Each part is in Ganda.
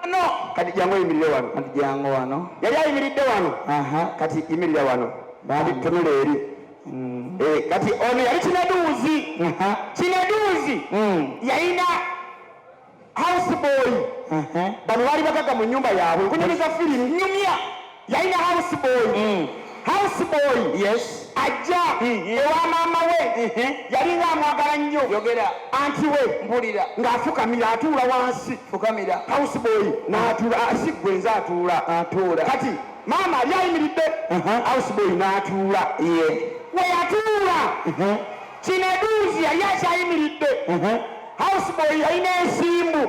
wano kati jangu oyimirire wano kati jangu wano yali ayimiridde wano aha kati yimirira wano kati tunula eri mm. eh, kati ono yali kinaduuzi kinaduuzi mm. yalina house boy bano baali bagaga mu nyumba yaabwe nkunyumiza firimu nyumya yalina house boy mm. house boy yes ajja mm-hmm. ewa maama we mm-hmm. yalinga amwagala nnyo yogera anti we mbulira ng'afukamira atuula wansi fukamira house boy n'atuula asigwe nze atuula atuula kati maama ali ayimiridde uh-huh. house boy n'atuula ye we yatuula mm-hmm. kineduuzi yali akyayimiridde house boy yalina ensimbu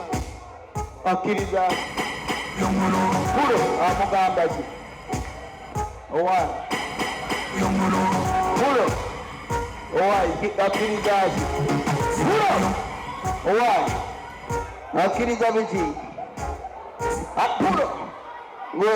akkiriza kulo amugamba ki owaye kulo owaye akkiriza ki kulo owaye akkiriza biki akulo we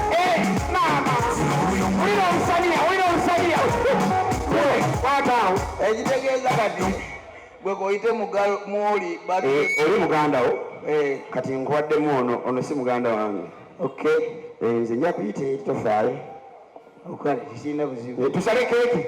ekitegeeza kati gwe koyite mwoli eh, oli muganda wo eh. kati nkuwaddemu ono ono si muganda wange ok eh, nze nja kuyita etofaayo okale tekirina buzibu tusale keeki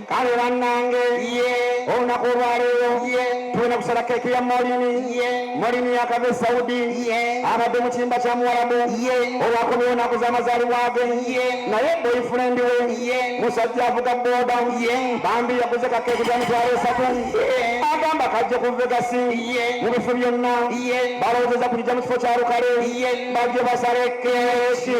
kale bannange olunaku olwaleero tulina kusala keeki ya molini molini yakava e saudi abadde mu kiyimba kya muwalabu olwakomye onaku z'amazaalibwa ge naye boyfriend we musajja avuga boda bambi yaguze kakeeki za mitwalo esatu agamba kajja ku vegasi mu bifu byonna balowoozeza kujija mu kifo kya lukale bajje basale keeki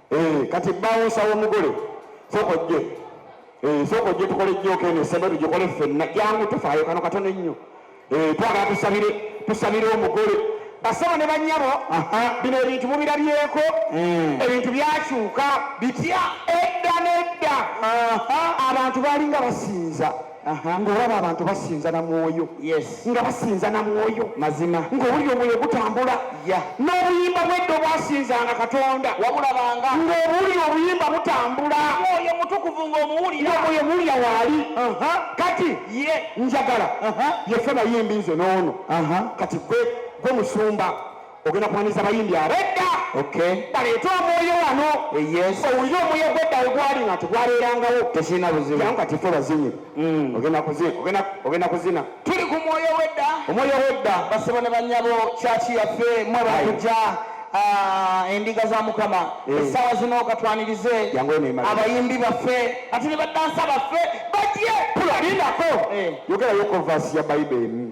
Eh, kati bawunsa w'omugole sooka ojje eh, sooka ojje tukole jjooka eno esaba tugikole ffenna jangu tufaayo kano katono ennyo eh, twagala tusabire tusabire omugole basaba ne banyabo bino ebintu mubirabyeko hmm. ebintu byakyuka bitya edda n'edda abantu baalinga basinza ng'olaba abantu basinza na mwoyo nga basinza na mwoyo mazima ng'owulira omwoyo gutambula n'obuyimba bwedda obwasinzanga katonda wabulabanga ng'owulira obuyimba butambula mwoyo mutukuvu ng'omuwulira omwoyo muwulira waali kati ye njagala yefe bayimbi nze n'ono kati gwe musumba ogenda kumanyisa bayimbi abo edda baleete omwoyo wano owulire omwoyo gwedda wegwali nga tegwabeerangawo tekirina buzibu jangu kati fe bazinyi mm. ogenda kuzina tuli ku mwoyo wedda omwoyo wedda basebo ne banyabo kyaki yaffe mwe bakujja ah, endiga za mukama eh. essaawa zino katwanirize abayimbi baffe ati ne baddansa baffe bajje tulalindako eh. yogerayo kovasi ya bayibuli emu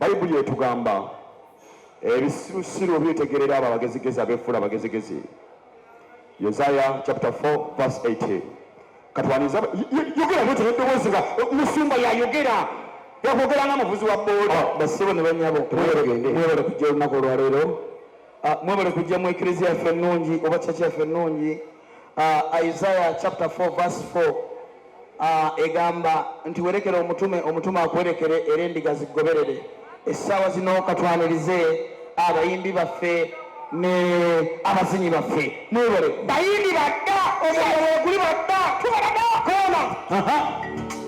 Bayibuli etugamba ebisirusiru byetegerera abo abagezigezi abeefuula abagezigezi. Yesaya chapter 4 verse 18. Katwaniza yogera bwete n'eddoboozi nga musumba yayogera yakwogera nga muvuzi wa booda. Ah, Bassebo ne bannyabo mwebale kujja olunaku olwaleero, ah, mwebale kujja mu eklezia yaffe ennungi oba kyaki yaffe ennungi. uh, Isaiah chapter 4 verse 4 uh, egamba nti werekere omutume omutume akuwerekere era endiga zigoberere essaawa zino katwanirize abayimbi baffe ne abazinyi baffe mwebale bayimbi badda omuliro weguli badda tubalaga koona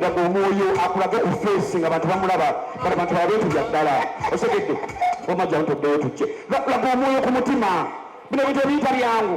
laga omwoyo akulage ku feesi nga bantu bamulaba kale bantu baba betulya ddala osegedde wamajja ntoddeyo tujje laga omwoyo ku mutima bino bintu ebiyita byangu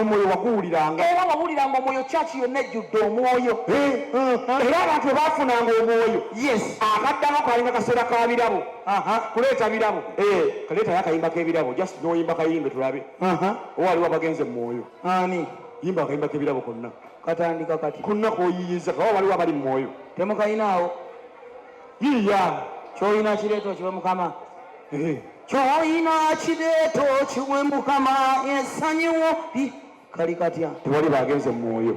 omwoyo waguwuliranga era wawuliranga omwoyo kyaki yonna ejjudde omwoyo eh, eh, eh. era abantu webafunanga omwoyo yes akaddako kalinga kaseera ka birabo kuleeta birabo kaleetayo akayimba k'ebirabo just noyimba kayimbe tulabe waliwo abagenze mu mwoyo ani yimba akayimba kebirabo konna katandika kati kunna koyiyiza kaba waliwo abali mumwoyo temukayinaawo yiya kyoyina kireeta okiwe mukama kyoyina kireeta okiwe mukama esanyiwo kali katya tewali bagenze mumwoyo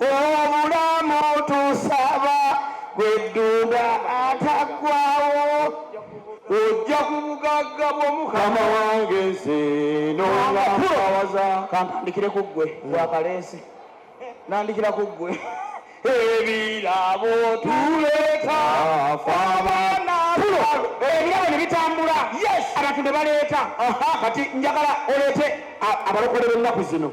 obulamu tusaba gweddunda ataggwawo ojja ku bugagga bw'omukama wange nze nongawaza kantandikire ku ggwe gwakaleesi nandikira ku ggwe ebirabo tuleeta fabana ebirabo ne bitambula abantu ne baleeta kati njagala oleete abalokole b'ennaku zino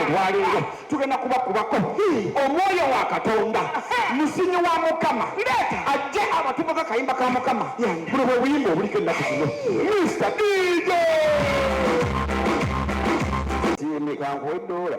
olwaleero tugenda kubakubako omwoyo wa katonda musinyi wa mukama ajje abatumo kakayimba ka mukama buno bwe buyimba obuliko ennaku zino mista dj siimikankuwa eddoola